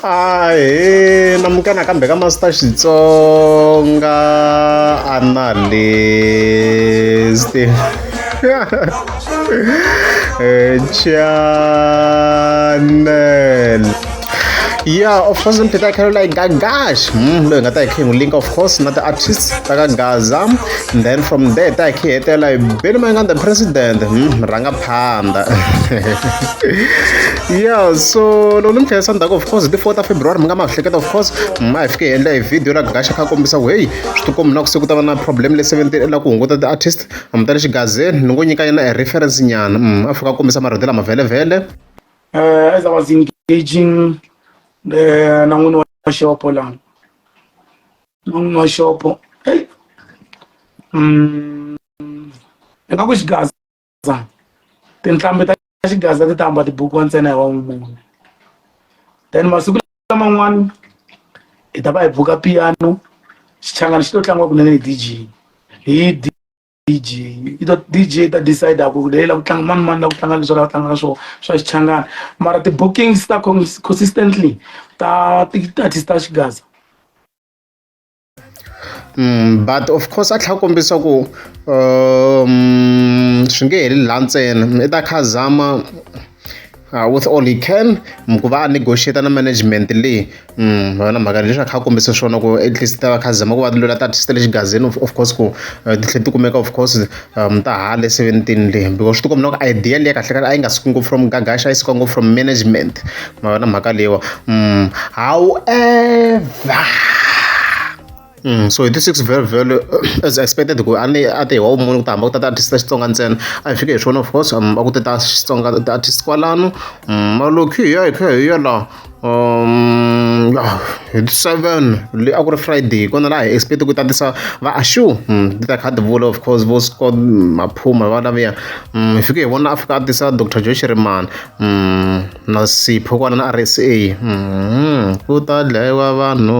ahe namukana kambe ka master xitsonga analyst eh, channel yeah of course mpita i carry like gagash hmm loyi nga ta hi khe n'wi link of course na ti-artist ta ka gaza and then from there ta hi khe hetela hi benimanganda president hmm rhanga panda yeah so loko ni mi khayisa ndzhaku of course hi ti four ta february mi nga ma hleketa of course ma hi fike hi endla hi video la gaxa kha kombisa ku heyi swi tikombi na ku se ku ta va na problem le seventeen la ku hunguta ti-artist mi ta le xigazeni ni ngo nyika yena a reference nyana mm, a fika a kombisa marito lama vhelevhele uh, as i was engaging the eh, na n'wini wa xopo lani na n'wini wa xopo hey. mm, ingaku xigazi Gaza. Tinhlambi ta Xigaza ti ta hamba tibukiwa ntsena hi wa n'wi mune. Then masiku laman'wana hi ta va hi buka piano xichangani xi to tlangiwa kunene hi DJ. Hi DJ i to DJ ta decide ku leyi la ku tlanga mani mani la ku tlanga leswi la ku tlanga swo swa xichangani mara ti bookings ta consistently ta ti artist ta Xigaza. Mm, but of course a tlhela kombisa ku um swi nge heli laha ntsena i ta kha zama uh, with all he can mm, ku va a negotiate na management leyi mm, vana mhaka leswi a kha kombisa swona ku at least ta va kha zama ku va lola ta artist le xigazini of course ku uh, titlhe ti kumeka of course ta hale seventeen le because swi tikomba loko idea leyi kahle kahle a yi nga suki ngopfu from gagasha yi suka ngopfu from management ma vona mhaka leyiwa mm, however Mm, so hi ti six very very as expected ku a ni a te hi wa vumunhu ku ta hamba ku tata artist ta xitsonga ntsena a hi fike hi swona of course um, a ku te ta xitsonga artist kwalano mm, malokhi hi ya hi kha hi ya laha um hi ti seven leyi a ku ri Friday hi kona laha hi expect ku tatisa va Ashu ti ta kha ti vula of course vo Scott Maphuma va laviya hi fike hi vona a fika a tisa Doctor Joe Shirimani na Sipho kwala na R_S_A ku ta dlayiwa vanhu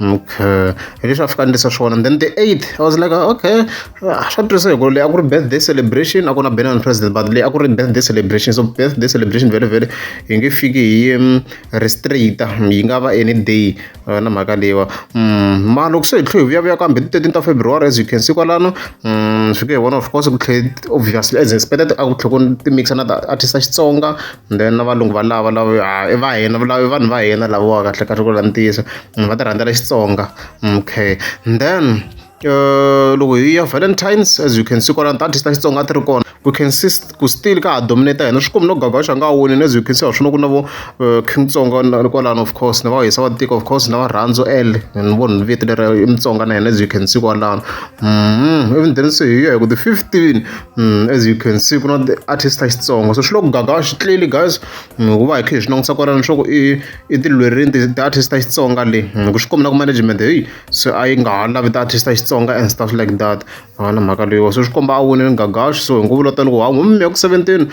Okay hi leswi a fika a ni tirhisa swona then the eight I was like okay swa tirhisa hi ku leyi a ku ri birthday celebration a ku na Benoni president but leyi a ku ri birthday celebration so birthday celebration vele vele hi nge fiki hi mm, restricta yi nga va any day eh, na mhaka leyiwa mm, ma loko se hi tlhe hi vuyavuya kambe ti 13 ta february as you can see kwalano mm, swi ke hi vona of course ku tlhe obviously as expected a ku tlhe ku ti mixa na artist ya xitsonga and then na valungu va lava lava i va hina i vanhu va hina lavawa kahle kahle ku vula ntiyiso va ti rhandzela xitsonga okay and then uh, loko hi ya valentines as you can see kwalani ta artist ta xitsonga ti ri kona we can see ku still ka ha dominate hina swi komi no gagaxa a nga wonini as you can see wa swi no ku na vo uh, king tsonga kwalani of course na va hisa va tiko of course na va rhandzu l and vo ni vito leri i mutsonga na hina as you can see kwalano mm-hmm. even then se hi ya hi ku ti-fifteen Mm, as you can see ku na ti-artist ta xitsonga so swi le ku gagawa xi tleli guys mm, hikuva hi khe hi swi langutisa kwalano swa ku i i tilwerini ti-artist ta xitsonga le mm, ku swi kombela ku management heyi se a yi nga ha lavi ti-artist ta xitsonga and stuff like that a na mhaka leyiwa so swi komba a winile gagaxi so hi nguvu lo tani ku ha n'wi miya ku seventeen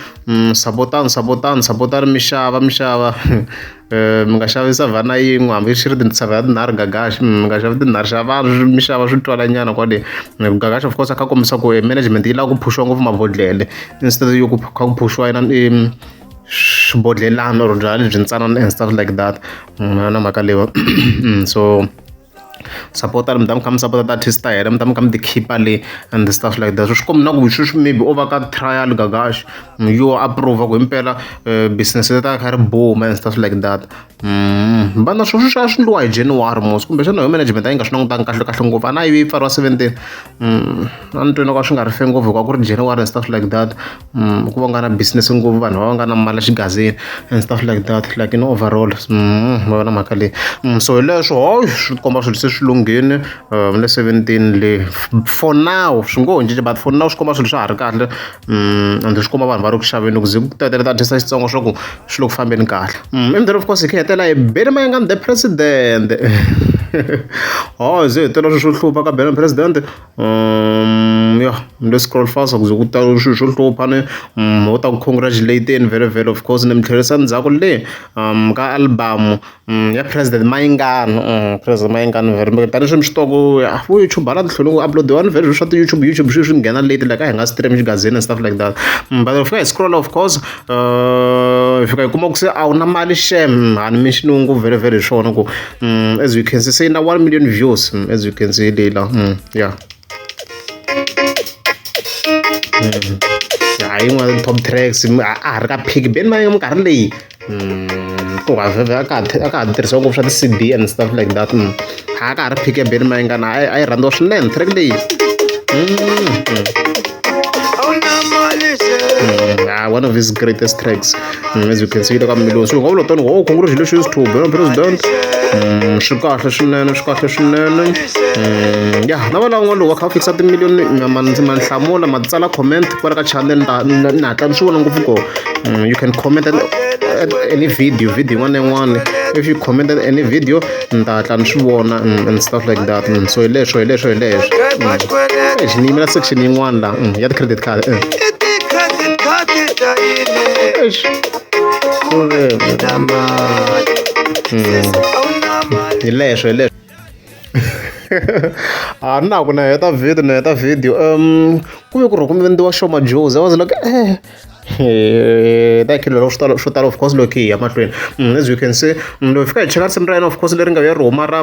sapotani sapotani sapotani mixava mixava mi nga xavi savhana yin'we hambi swi ri tisavana tinharhu gagax mi nga xavi tinharhu xavani swi mi xava swi twala nyana kwale gagax of course a kha kombisa ku e management yi lava ku phuxiwa ngopfu mabodhlele instead yo ku kha ku phuxiwa yena i swibodhlelana or byalwa lebyi ntsanana and stuff like that na mhaka leyo so sapota mi ta mi kha mi sapota ti-artist ta hina mi ta mi kha mi ti khipa le and the stuff like that so swi kombi na ku sweswi maybe o va ka trial gagash yo approve ku himpela eh, business ta kha ri boom and stuff like that mm, vana swo swi swa swi ndliwa hi january mos kumbe xana yo management a yi nga swi langutangi kahle kahle ngopfu a na yi pfariwa seventeen mm, a ni twini ka swi nga ri fe ngopfu hikuva ku ri january and stuff like that ku va nga na business ngopfu vanhu va va nga na mali xigazini and stuff like that like in overall ma va na mhaka leyi so hi leswo hayi swi ti komba swilo se swi lunghile ni le seventeen le for now swi ngo ho cinca but for now swi komba swilo swa ha ri kahle and swi komba vanhu va ri ku xaveni loko ze ku ta tele ta tisa xitsongo swa ku swi le ku fambeni kahle ivi then of course hi kha hi hetelela hi bele mayengani the president hawu hi ze hi tela swilo swo hlupha ka bela president. Ya ni lo scroll fast ku ze ku ta swilo swo hlupha ni va ta ku congratulate-ni vhele vhele of course ni mi tlherisa ndzhaku le ka album ya president Mayingani president Mayingani vhele ni tani sweswi swi tiva ku vo YouTube hala ni tlhela ku upload-iwa ni vhele swilo swa ti YouTube YouTube sweswi ni nghena late like a hi nga stream xigazini and stuff like that but hi fika hi scroll of course hi fika hi kuma ku se a wu na mali shame a ni mi xilungu vhele vhele hi swona ku. mm, as you can see say na 1 million views mm, as you can see lila mm, yeah mm. ya yin'wana top tracks mm, a ha ri ka pick beni ma minkarhi leyi mm, ku vhavhevhe a ka ha tirhisiwa ngopfu swa ti-cd and stuff like that mm. ha ka ha ri pick ya beni ma yingana a yi rhandziwa swinene track leyi mm, mm. mm, one of his greatest tracks Mm, as you can see ka mmiloni so ngavula tani oh congratulations to bena president mm, swi kahle swinene swi kahle swinene mm, ya na vana n'wana lowu va kha va fikisa timiliyoni manhlamula ma tsala comment kwala ka channel ni hatla ni swi vona ngopfu ko you can comment at any video video yin'wana na yin'wana if you comment at any video ni ta hatla ni swi vona and stuff like that mm, so hi leswo hi leswo hi leswo mm. ni yimela section yin'wana la mm, ya ti-credit card eh. hi leswo hi leswo a ni na ku na heta video na heta video um ku ve ku rhi ku endliwa shoma joes i was like eh ta khilo loko swi talo swo tala of course loko hi ya mahlweni mm, as you can see mm, loko hi fika hi cheka risimu ra yena of course leri nga ya ri huma ra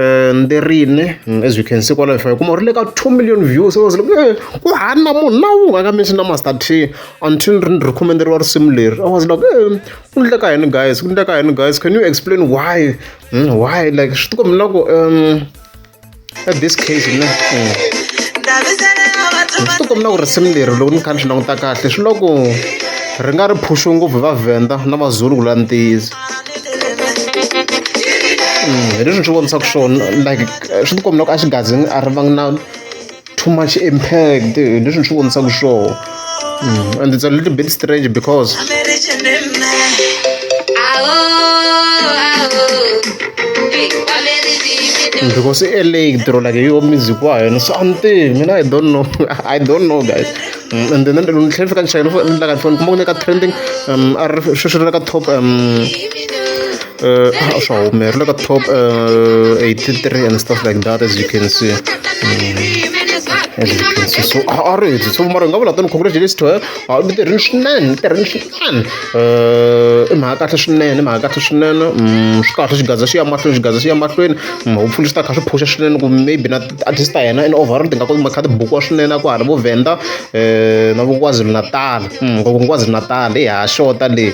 eh, nderine mm, as you can see kwalaho hi fika kuma ri le ka two million views was like eh, ku hana munhu na wu nga ka mention na master t until ri ri khomenderiwa risimu leri i was like eh, ku ndle ka yini guys ku ndle ka yini guys can you explain why why like swi tikombi na ku um ka this case mina ndzi ti komina ku risimu leri loko ni kha ni swi languta kahle swi loko ri nga ri phuxu ngopfu hi vavhenda na mazulu ku la ntiyiso mm, hi leswi ni swi vonisaka swona like swi ti komina ku a xi gazi a ri vangi na too much impact hi leswi ni swi vonisaka swona mm, and it's a little bit strange because because i-la tirho like yo music wa hina so antivi mina i don't know i don't know guys mm, and then ni tlhela fika ni chayela ni laka ni kuma ku ni ka trending um a ri sweswi ri le ka top um uh, a swa humelela ka top uh, 83 and stuff like that as you can see mm. as you can see so a ri heti so mara hi nga vula tani congratulations to her a mi tirhini swinene mi tirhini swinene i mhaka kahle swinene i mhaka kahle swinene swi kahle xigaza xi ya mahlweni xigaza xi ya mahlweni hopefully swi ta kha swi phusha swinene ku maybe na artist ta yena and overall ti nga koti makha tibukiwa swinene ku hala vo venda na vukwazulu natal ku vukwazulu natal i ha xota leyi